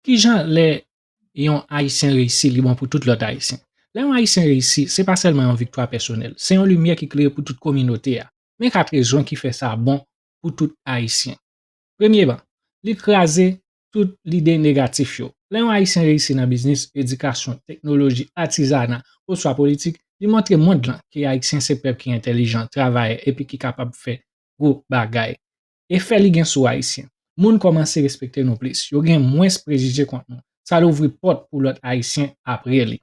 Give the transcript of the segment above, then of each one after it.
Kijan lè yon Ayisyen reyisi li bon pou tout lòt Ayisyen? Lè yon Ayisyen reyisi, se pa sèlman yon viktwa pèsonèl, se yon limyè ki klere pou tout kominote a. Men 4 rezon ki fè sa bon pou tout Ayisyen. Premyeman, li kraze tout lide negatif yo. Lè yon Ayisyen reyisi nan biznis, edikasyon, teknoloji, atizana, oswa politik, li montre mond lan ke Ayisyen se pèp ki entèlijan, travayè, epi ki kapab fè gwo bagay. Efè li gen sou Ayisyen, Moun kòmanse respekte nou plis, yo gen mwens prejije kont nou, sa louvri pòt pou lòt Ayisyen apre li.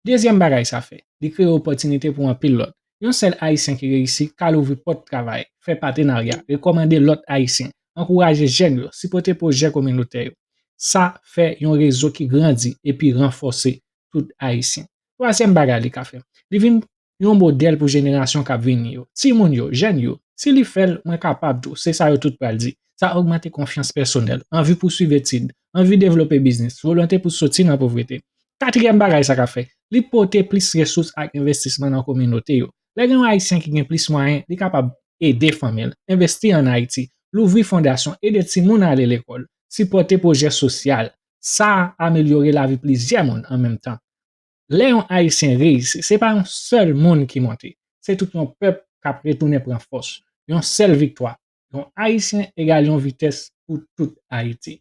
Dezyèm bagay sa fè, li kreye opòtinite pou anpil lòt. Yon sèl Ayisyen ki reyisi ka louvri pòt travay, fè patenarya, rekòmande lòt Ayisyen, ankouraje jèn yo, sipote pwojè kominotè yo. Sa fè yon rezo ki grandi epi ranfòse tout Ayisyen. Twazyèm bagay li ka fè, li vin yon modèl pou jenerasyon k ap vini yo, timoun yo, jèn yo, si li fè l, mwen kapab tou, se sa yo tout pral di. Sa ogmante konfyans pèsonèl, anvi pou swiv etid, anvi devlope biznis, volonte pou soti nan povrete. Katriyèm bagay sa ka fè, li pote plis resous ak envestisman nan kominote yo. Lè gen yon Ayisyen ki gen plis mwayen, li kapab ede fanmi l, envesti an Ayiti, louvri fondasyon, ede timoun ale lekòl, sipòte pwojè sosyal. Sa amelyore lavi plizyè moun an menm tan. Lè yon Ayisyen reyisi, se pa yon sèl moun ki monte, se tout yon pèp k ap retounen pran fòs. Yon sèl viktwa yon Ayisyen egal yon vitès pou tout Ayiti.